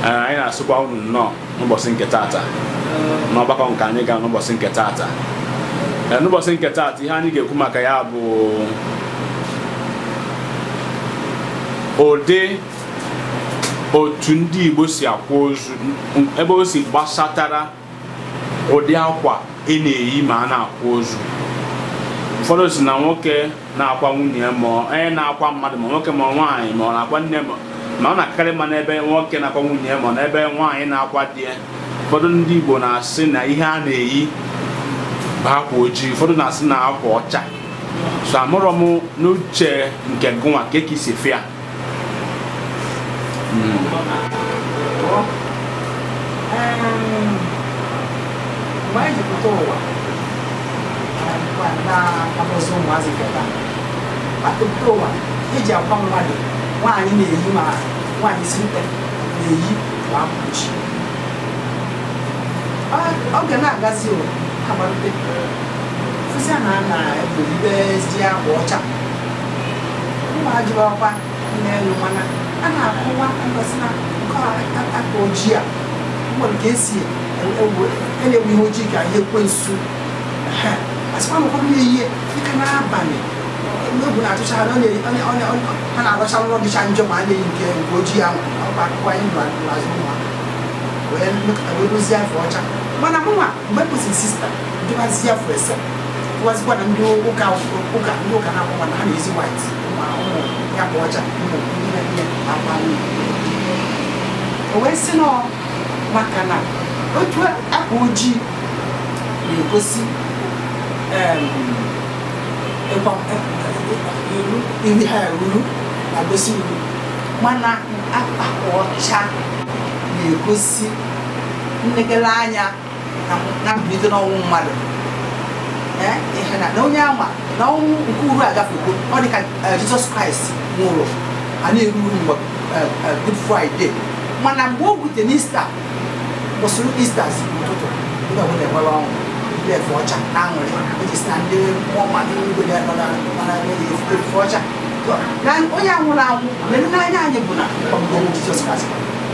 anyị na-asụkwa unu nnọọ n'ụbọchị nke taata n'ọgbakọ nke anyị ga n'ụbọchị nke taata n'ụbọchị nke taata ihe anyị ga-ekwu maka ya bụ ụdị otu ndị Igbo si akwa ozu ebe o si gbasatara ụdị akwa ị na-eyi ma a na-akwa ozu ụfọdụ sị na nwoke na-akwa nwunye ya ma ọ- onye na-akwa mmadụ ma nwoke ma nwaanyị ma ọ na-akwa nne ma ma ọ na-akarị ma n'ebe nwoke na-akwa nwunye ya ma ọ n'ebe nwaanyị na-akwa di ya ụfọdụ ndị Igbo na-asị na ihe a na-eyi bụ akwa ojii ụfọdụ na-asị na akwa ọcha so amarọ m n'uche nke gụnwa kee ka i si fụ ya mgbe anyị ji pụta ụwa na-akpọzi ụmụazị keta atụpụta ụwa eji akwa mmadụ nwaanyị na-eyi ma nwaanyị isi mkpe na-eyi na-abụ ojii oge na-agazi amalite fụzia na a na-ebulibezi akwa ọcha mma jụrụ ọkwa n'elu mana a na-akọwa ngosi na nke akwa ojii a nwere ka esi elewe ihe ojii ka ihe ekwensu a sịkwa na ụfọdụ na-eyi dịka n'abalị egwu na-atụcha ha ha na-arọcha nrọ dịcha njọ ma a na-eyi nke nke ojii ahụ ọkwa akụkọ anyị nọ n'azụ ụmụ wee mepụta wee dozie afe ọcha mana mụnwa mgbe kwụsịrị sista dịwazi afọ ese dịwazikwa na ndị ụka ụka ndị ụka na-akwụ mana ha na-eyi white ma ụmụ ya bụ ọcha ụmụ ihe ihe akwa o wee sị na ọ maka na otu akwa ojii na-egosi em, ịgba- iru uru ha ruru na-egosi uru mana akwa ọcha na-egosi nlegele anya na mbilite n'ọnwụ mmadụ ihe na onye ama na ọnwụ nke uru agafego ọ dị ka jizọs kraịst nwụrụ a na-eru uru mgbe good friday mana mgbe o rute n'ista kwụsịrị istas ụtụtụ ndị ọbụla enwere ọṅụ ndị efe ọcha na aṅụrị iji sị na ndị mmụọ mmadụ igwe ya nọ na mana efe ọcha na onye anwụrụ anwụ mere n'anya anyị bụ na ọmụmụ jizọs kraịst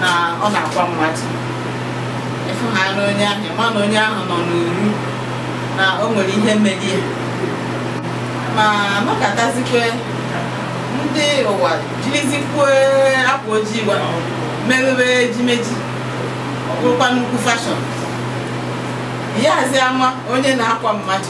na ọ na-akwa mmadụ ị fụ ha na onye ahụ ma na onye ahụ nọ n'uru na o nwere ihe mere ya ma nọkatazikwe ndị ụwa jirizikwe akwa ojii wee merube ejimeji ọ bụrụkwa nnukwu fashọn ị yazi ama onye na-akwa mmadụ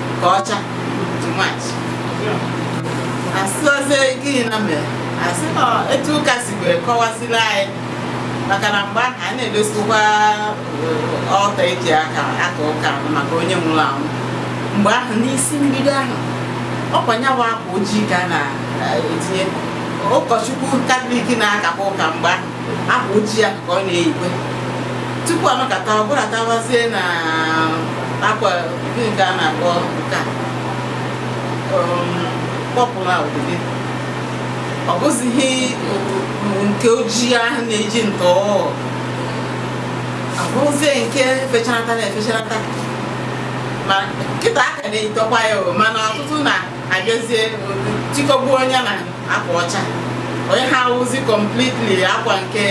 ka ọcha too much asịozi gịnị na mere asị na etu ụka si wee kọwasịrị anyị maka na mgbe ahụ a na-edosikwa altar eji aka aka ụka maka onye nwụrụ anwụ mgbe ahụ n'isi mbido ahụ ọkwa nya wụ akwa ojii ka a na-etinye ụkọchukwu katọlik na-akakwa ụka mgbe ahụ akwa ojii ya ka ọ na-eyikwe tupu emekata abatawazie na akwa gịnị ka a na-akpọ nke a purple na obodo ọ bụzighị nke ojii ahụ na-eji ntọ ọ bụzie nke fechanata na efechanata ma kịta a ka na-eyitụkwa ya o mana ọtụtụ na-abịazie tikọgbuo onwe na akwa ọcha onye ha awụzi completely akwa nke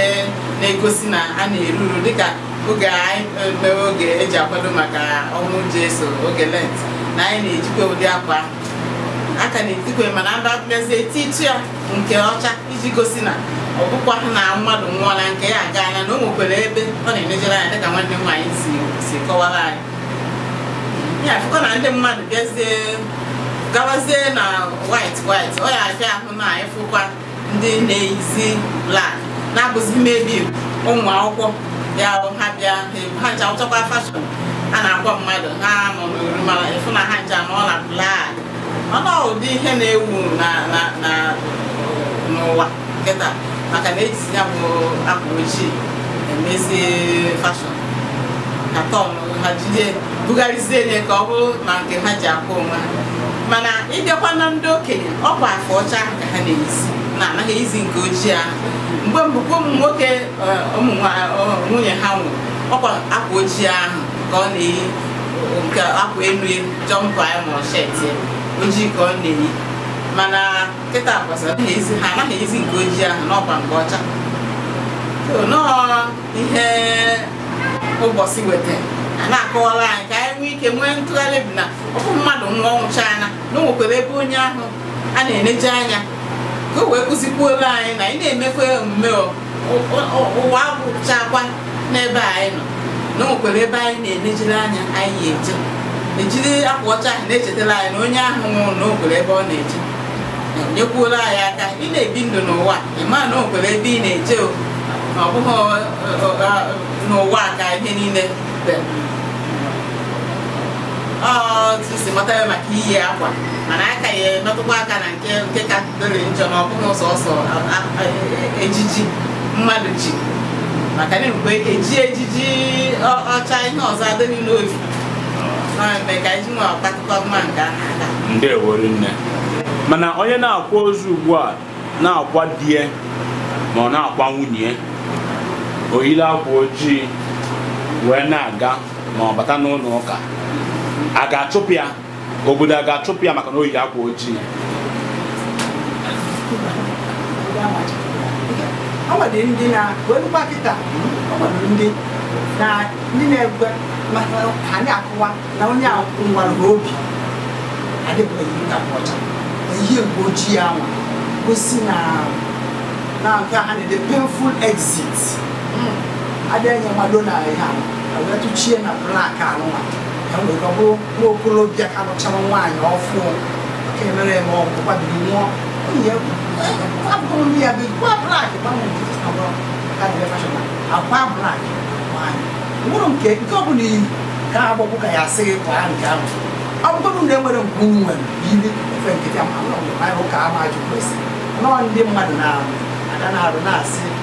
na-egosi na a na-eru uru dịka oge anyị mewe oge eji akwado maka ọnwụ Jesu oge lent na anyị na-ejikwa ụdị akwa ahụ a ka na-etikwe mana ndị abịazi eti itu ya nke ọcha iji gosi na ọ bụkwaha na mmadụ nwụọla nke ya agaala na o nwekwara ebe ọ na-enejere anya dịka nwanne m nwaanyị si kọwara anyị ya afụkwa na ndị mmadụ bịazie gawazie na white white ọ ya abịa ahụ na ịfụkwa ndị na-eyizi black na-abụzi maybe ụmụ akwụkwọ ya bụ ha bịa ha ncha wụchakwa fashion a na-akwa mmadụ ha nọ n'uru mana ịfụ na ha ncha nọ na black ọ bụ ụdị ihe na-ewu na na na n'ụwa kịta maka na ejizi ya bụ akwa ojii emezie fashion ka tọn ha jide bugharịzie nye ka ọ bụrụ ma nke ha ji akwa onwe ha mana ịbịakwa na ndị okenye ọ bụ afe ọcha ahụ ka ha na-eyizi na anaghị eyizi nke ojii ahụ mgbe mbụ kwa ụmụ nwoke eh, ụmụ nwa- eh, nwunye ha nwụrụ ọkwa akwa ojii ahụ ka ọ na-eyi nke akwa elu jumper ya ma ọ shirt ojii ka ọ na-eyi mana kịta kwa ha anaghị eyizi nke ojii ahụ na ọkwa nke ọcha nọọ ihe ụbọchị weta a na-akọwara anyị ka anyị nwee ike nwee ntụgharị bụ na ọ bụ mmadụ nwụọ ọ gwụchaana na o nwekwara ebe onye ahụ a na-eneje anya ka o wee kụzikwuola anyị na anyị na-emekwa omume ụwa gwụchakwa n'ebe anyị nọ na o nwekwara ebe anyị na-enejere anya anyị eje ejiri akwa ọcha ahụ na-echetara anyị na onye ahụ nwụrụ na o nwekwara ebe ọ na-eje nyekwuola anyị aka ị na-ebi ndụ n'ụwa ị ma na o nwekwara ebe ị na-eje o na ọ bụghị n'ụwa ka ihe niile biri otu m si mata ya maka iyi akwa mana a ka ya-emetụkwa aka na nke nke ka dịrị njọ na ọ bụghị sọsọ ejiji mmadụ ji maka na mgbe e ji ejiji ọcha ihe ọzọ adịghị n'obi na-eme ka iji nwe ọkpakụkọ mma nke a na-aga ndewo nne mana onye na-akwa ozu ugbu a na-akwa di e ma ọ na-akwa nwunye o yiri akwa ojii wee na-aga ma ọ bata n'ụlọ ụka a ga-achụpụ ya obodo a ga-achụpụ ya maka na o yi akwa ojii o nwere ndị na wee lụkwa kịta o nwere ndị na ndị na-egwe maka ha na-akọwa na onye a nwara ha obi adịbụghị nkapụ ọcha ihe mgbe ojii ahụ gosi na na nke a na-ede painful exit adịghị enye mmadụ na ihe a wee tụchie na black anụnwa ka wee ọ bụrụ nwa okorobịa ka lụchara nwaanyị ọfụụ ka e mere eme ọgwụ gbabiri nwụọ nwunye abụrụ ndị ya bụ akwa black gbanwe ntutu na bụrụ ka dị fashion na akwa black nwaanyị nwụrụ nke nke ọ bụla iyi ka agbọgbụ ka ya a sị gị kwaa nke ahụ ọ bụrụ na e nwere nke unu nwere yiri efe nkịtị ama ụlọ mgbe anyị ụka ama ajụ kwesị nọọ ndị mmadụ na-arụ ada na-arụ na-asị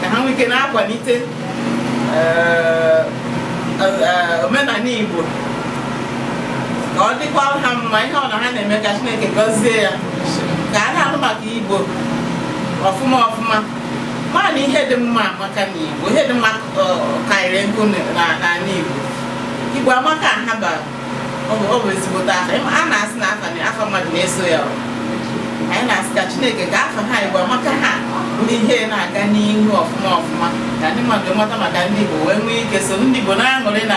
ka ha nwee ike na-akwalite eh, eh, omenala Igbo ka ọ dịkwa ha mma ihe ọma ha na-eme ka Chineke gọzie ya ka a na-ahụ maka Igbo ọfụma ọfụma mana ihe dị mma maka na igbo ihe dị mma karịrị nkụ n'ala igbo igbo amaka ha bara ọ bụ ezigbote afa a na-asị na afa afa mmadụ na-eso ya anyị na-asị ka chineke ka afa ha igbo amaka ha ndị ihe na-aga n'ihu ọfụma ọfụma ka ndị mmadụ mata maka ndị igbo wee nwee ike so ndị igbo na-aṅụrị na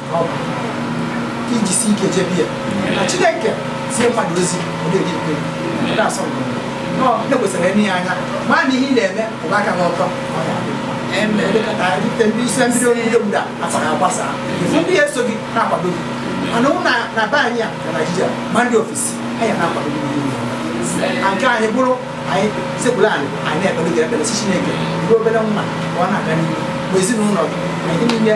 i jisi ike jebe ya na chineke zie mmadụ ozi odedị ikpe ndị asọ ndị kwesịrị ịnụ ya anya ma na ihe ị na-eme ụba aka gị ọtọ ise mmiri oriri obodo a asara agbasa ịfụ ndị na-eso gị na-akwado gị mana ụmụnna be anyị a na naijiria ma ndị ofesi anyị na-akwado gị nke anyị bụrụ anyị sekpuru anị anyị na-ekpere gị ekpere sị chineke ruo obere nwa ka ọ na-aga n'ihu bụ ezinụlọ gị anyị niile